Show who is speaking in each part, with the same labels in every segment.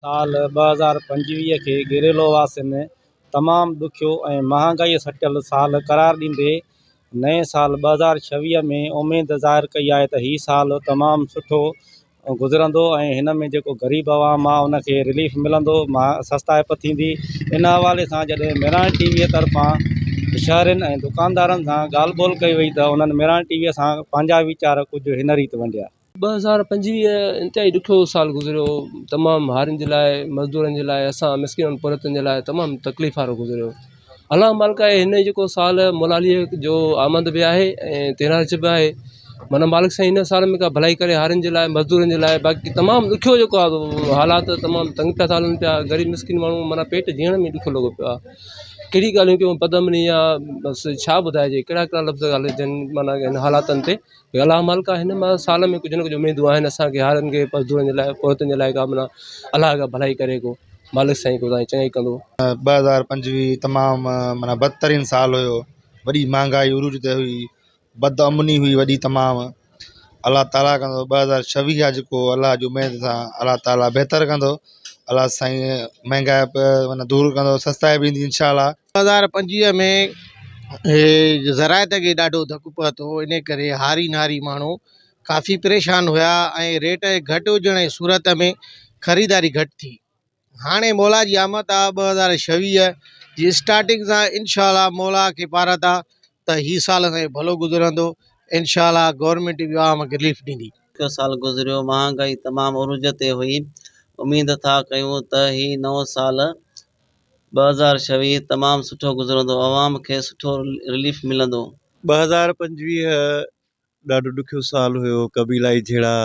Speaker 1: سال ٻه هزار پنجويهه کي گيريلو واسين ۾ تمام ڏکيو ۽ مهانگائيء سٽيل سال قرار ڏيندي نئين سال ٻه هزار ڇويهه ۾ اميد ظاهر ڪئي آهي ته هي سال تمام سٺو گذرندو ۽ هن ۾ جيڪو غريب عوام آهي ان کي رليف ملندو سستائپ ٿيندي ان حوالي سان جڏهن ميراڻ ٽي ويء طرفان شهرين ۽ دڪاندارن سان ڳالهه ٻولهه ڪئي وئي ته انهن ميراڻ ٽي ويء سان پنهنجا ويچار ڪجهه هن ريت ونڊيا. ٻه هزار پنجويهه
Speaker 2: انتهائي ڏکيو سال گذريو تمام هارين جي لاء مزدورن جي لاء اسان مسڪينن پورهيتن جي لاء تمام تڪليف وارو گذريو الله مالڪ آهي هن جيڪو سال ملالي جو آمد به آهي ۽ تيرارجه به آهي منا مالڪ سائين هن سال ۾ ڪا ڀلائي ڪري هارين جي لاء مزدورن جي لاء باقي تمام ڏکيو جيڪو آهي اهو حالات تمام تنگ پيا ٿا هلن پيا غريب مسڪين ماڻهو منا پيٽ جيئڻ ۾ ڏکيو لڳو پيو آهي ڪهڙي ڳالهيون ڪيون پد امني آ بس ڇا ٻڌائجي ڪهڙا ڪهڙا لفظ ڳالهجن منا هن حالاتن تي الله مالڪ آهن معنيٰ سال ۾ ڪجهه نه ڪجهه اميدون آهن اسانکي هارين کي مزدورن جي لاء پوئتن جي لاء ڪا معنيٰ الله اگهان ڀلائي ڪري ڪو مالڪ سائين ڪو تانجي چڱائي ڪندو ٻه هزار پنجويهه
Speaker 3: تمام معنيٰ بدترين سال هيو وڏي مهانگائي عروج تي هئي بد امني هئي وڏي تمام الله تعاليٰ ڪندو ٻه هزار ڇويهه جي ڪو الله جي اميد سان الله تعاليٰ بهتر ڪندو الله سائين مهانگائي معنيٰ دور ڪندو سستائي به ايندي انشاء الله ٻه هزار پنجويهه ۾
Speaker 4: زراعت کي ڏاڍو ڌڪ پهتو ان ڪري هاري ناري ماڻهو ڪافي پريشان هيا ۽ ريٽ گهٽ هجڻ جي صورت ۾ خريداري گهٽ ٿي هاڻي مولا جي آمد آ ٻه هزار ڇويهه جي اسٽارٽنگ سان انشاء الله مولا کي پارا ٿا ته هي سال اسان جو ڀلو گذرندو انشاء الله گورنمينٽ به عوام کي رليف ڏيندي. ڏکيو سال گذريو،
Speaker 5: مهانگائي تمام عروج تي هئي، اميد ٿا ڪيون ته هي نئون سال ٻه هزار ڇويهه تمام سٺو گذرندو عوام کي سٺو رليف ملندو. ٻه هزار پنجويهه
Speaker 6: ڏاڍو ڏکيو سال هيو قبيلائي جهيڙا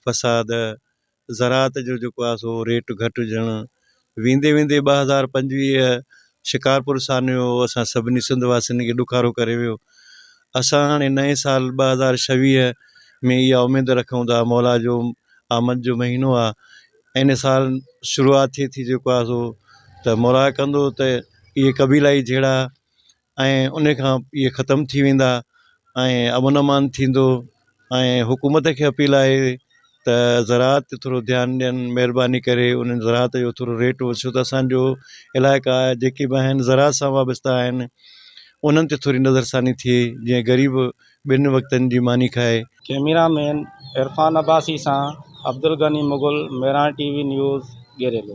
Speaker 6: فساد زراعت جو جيڪو آهي سو ريٽ گهٽ هجڻ ويندي ويندي ٻه هزار پنجويهه شڪارپور سانحو اسان سڀني سنڌ واسين کي ڏکارو ڪري ويو اسان هاڻي نئين سال ٻه هزار ڇويهه ۾ اها اميد رکون ٿا مولا جو آمد جو مهينو آهي ان سال شروعات ٿئي ٿي جيڪو آهي سو ته مورا ڪندو ته اهي قبيلائي جهيڙا ۽ ان کان اهي ختم ٿي ويندا ۽ امن امان ٿيندو ۽ حڪومت کي اپيل آهي ته زراعت تي ٿورو ڌيان ڏين مهرباني ڪري انهن زراعت جو ٿورو ريٽ وڇو ته اسانجو علائقا جيڪي به آهن زراعت سان وابسته آهن انهن تي ٿوري نظر ثاني ٿئي جيئن غريب ٻن وقتن جي ماني کائي. ڪيميرا مين
Speaker 1: عرفان عباسي سان Abdulghani Mughal, Mehran T V news, گيريلو.